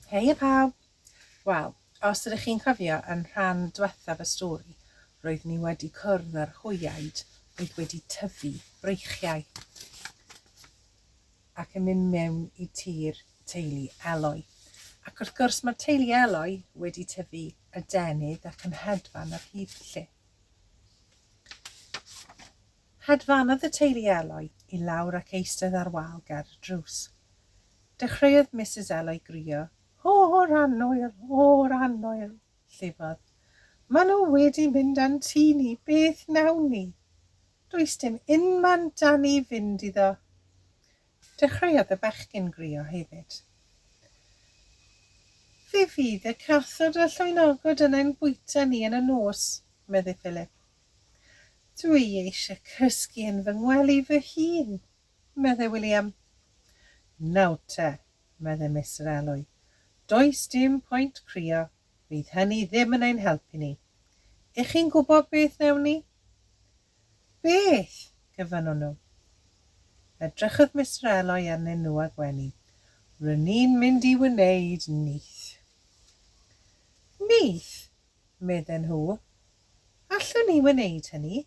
Heia pawb! Wel, os ydych chi'n cofio yn rhan dwethaf y stori, roeddwn i wedi cwrdd â'r hwyaid oedd wedi tyfu breichiau ac yn mynd mewn i tir teulu Eloi. Ac wrth gwrs mae teulu Eloi wedi tyfu adenydd ac yn hedfan ar hyd lle. Hedfanodd y teulu Eloi i lawr ac eistedd ar wal ger y drws. Dechreuodd Misus Eloi grio, O'r annwyl! O'r annwyl! llifodd. Maen nhw wedi mynd a'n tŷ ni, beth wnawn ni? Does dim unman 'da ni fynd iddo. Dechreuodd y bechgyn grio hefyd. Fe fydd y cathod a llwynogod yn ein bwyta ni yn y nos, medde Philip. Dw i eisiau cysgu yn fy ngwely fy hun, meddai William. Nawr te, meddai Mister Elwy, does dim pwynt crio, fydd hynny ddim yn ein helpu ni. Y'ch chi'n gwybod beth wnewn ni? Beth? gofynnwn nhw. Edrychodd Mister Elwy arnyn nhw a gwenu. Ry'n ni'n mynd i wneud nyth. Nyth? medden nhw. Allwn ni wneud hynny.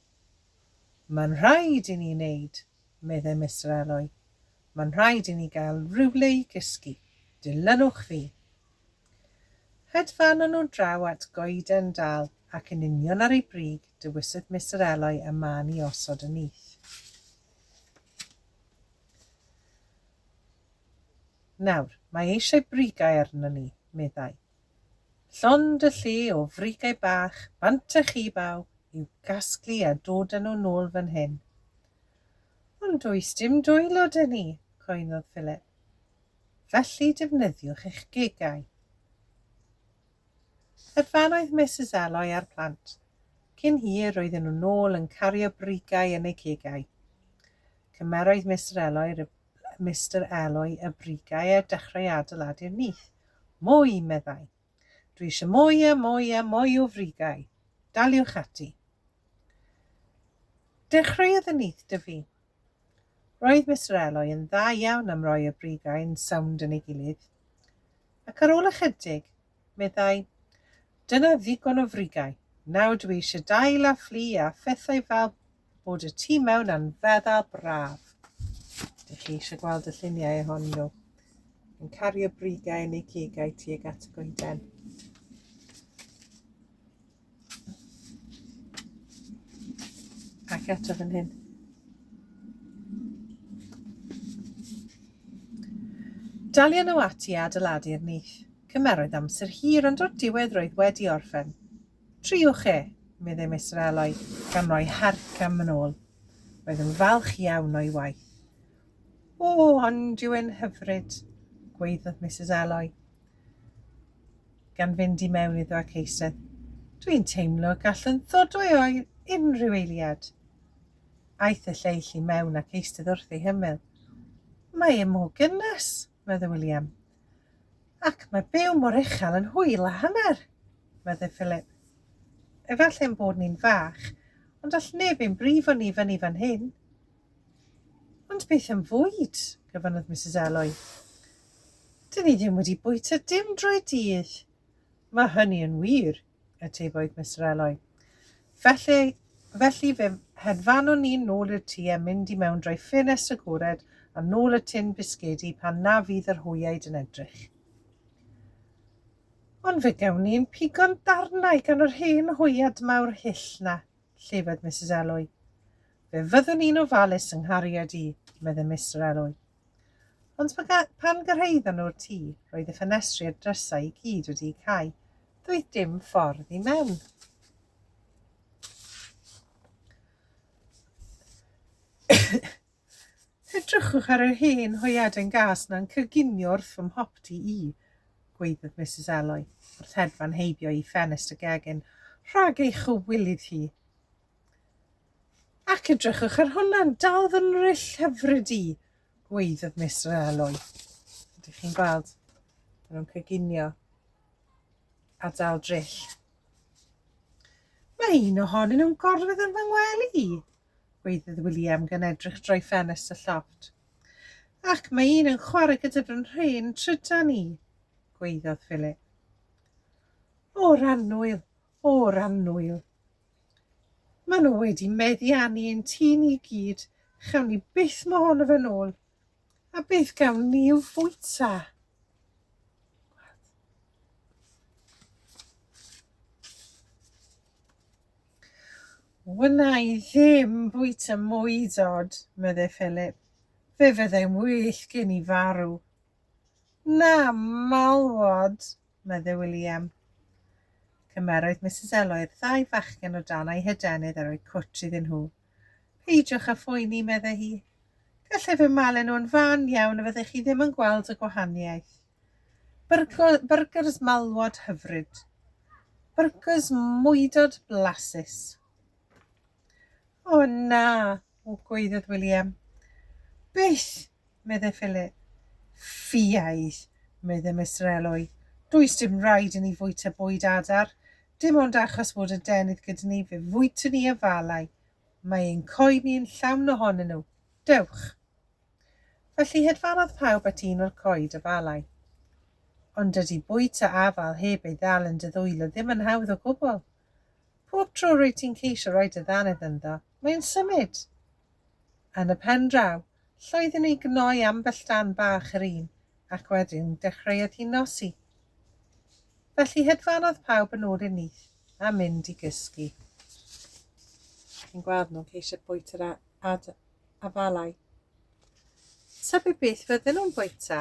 Mae'n rhaid i ni wneud, meddai Mister Alloy. Mae'n rhaid i ni gael rhywle i gysgu. Dilynwch fi. Hedfanon nhw draw at goeden dal ac yn union ar ei brig dewisodd Mister Alloy y man i osod y nyth. Nawr, mae eisiau brigau arno ni, meddai. Llond y lle o frigau bach bant a chi baw i'w gasglu a dod â nhw nôl fan hyn. Ond does dim dwylo 'da ni, coennodd Philip. Felly defnyddiwch eich gegau. Yr fan oedd Misus Eloi a'r plant. Cyn hir roedden nhw nôl yn cario brigau yn eu cegau. Cymeroedd Mister Eloi Mister Eloi y brigau a dechrau adeiladu'r nyth. Mwy! meddai. Dwi eisiau mwy a mwy a mwy o frigau. Daliwch ati. Dechreuodd y nyth dyfu. Roedd Mister Eloi yn dda iawn am roi y brigau'n sownd yn ei gilydd. Ac ar ôl ychydig, meddai. Dyna ddigon o frigau. Nawr dwi eisiau dail a fflu a phethau fel bod y tu mewn a'n feddal braf. Dych chi eisiau gweld y lluniau ohonyn nhw? Yn cario brigau yn eu cegau tuag at y goeden. Ac eto fan hyn. Dalion nhw ati a adeiladu'r nyth. Cymeroedd amser hir ond o'r diwedd roedd wedi orffen. Triwch e, meddai Mister Eloy, gan roi harc am yn ôl. Roedd yn falch iawn o'i waith. O, ond yw'n hyfryd, gweiddodd Mrs Eloy. gan fynd i mewn iddo ac eistedd. Dwi'n teimlo y gallwn ddod o'i oedd unrhyw eiliad. Aeth y lleill i mewn ac eistedd wrth ei hymyl. Mae e mor gynnes, meddwl William. Ac mae byw mor uchel yn hwyl a hanner, meddwl Philip. Efallai ein bod ni'n fach, ond all neb ein brifo ni fyny fan hyn. Ond beth am fwyd? gofynnodd Misus Eloi. Dyn ni ddim wedi bwyta dim drwy'r dydd. Mae hynny yn wir, atebodd Mister Eloi. Felly, felly fe hedfanwn ni'n nôl i'r tŷ a mynd i mewn drwy ffenest agored a nôl y tin bisgedi pan na fydd yr hwyaid yn edrych. Ond fe gawn ni'n pigo'n darnau gan yr hen hwyad mawr hyll na, llefydd Misus Eloi. Fe fyddwn i'n ofalus yng nghariad i, medde Mister Elwy. Ond pan gyrhaeddon nhw'r tŷ, roedd y ffenestri a'r drysau i gyd wedi'u cau. Doedd dim ffordd i mewn. Edrychwch ar yr hen hoiaden gas na'n cyginio wrth fy mhopty i, gweiddodd Mrs Elwy, wrth hedfan heibio i ffenest y gegin, rhag ei chywilydd hi. Ac edrychwch ar hwnna, dal fy nryll hyfryd i, gweiddodd Miss Realoy. Ydych chi'n gweld? Maen nhw'n cyginio a dal dryll. Mae un ohonyn nhw'n gorfod yn fy ngwely i, gweiddodd William gan edrych drwy ffenest y llofft. Ac mae un yn chwarae gyda fy nhrin trydan i, gweiddodd Philip. O, Rannwyl, o'r annwyl. Mae nhw wedi meddiannu ein tŷ ni i gyd, chawn ni byth mo hon o fe'n ôl. A beth gawn ni i'w fwyta? Wna i ddim bwyta mwy dod, meddai Philip. Fe fyddai'n well gen i farw. Na, malwod, medde William. Cymerodd Misus Eloi'r ddau fachgen o dan ei hydenydd a rhoi cwtsh iddyn nhw. Peidiwch â phoeni, medde hi. Gallai fy malu nhw'n fan iawn a fyddech chi ddim yn gweld y gwahaniaeth. Byrgers malwod hyfryd. Byrgers mwydod blasus. O na, O Gwaeddodd William. Beth! medde Philip. Ffiaidd! medde Mister Elwy. Does dim raid i ni fwyta bwyd adar. Dim ond achos fod y denydd gyda ni fe fwytwn ni afalau. Mae ein coed ni yn llawn ohonyn nhw. Dewch! Felly hedfanodd pawb at un o'r coed afalau. Ond dydy bwyta afal heb ei ddal yn dy ddwylo ddim yn hawdd o gwbl. Pob tro rwyt ti'n ceisio rhoi dy ddannedd ynddo, Mae o'n symud! Yn y pen draw, llwyddi ni gnoi ambell dan bach yr un, ac wedyn dechreuodd hi nosi. Felly hedfanodd pawb yn ôl i'r nyth a mynd i gysgu. Chi'n gweld nhw'n ceisio bwyta yr afalau. Tybed beth fydden nhw'n bwyta?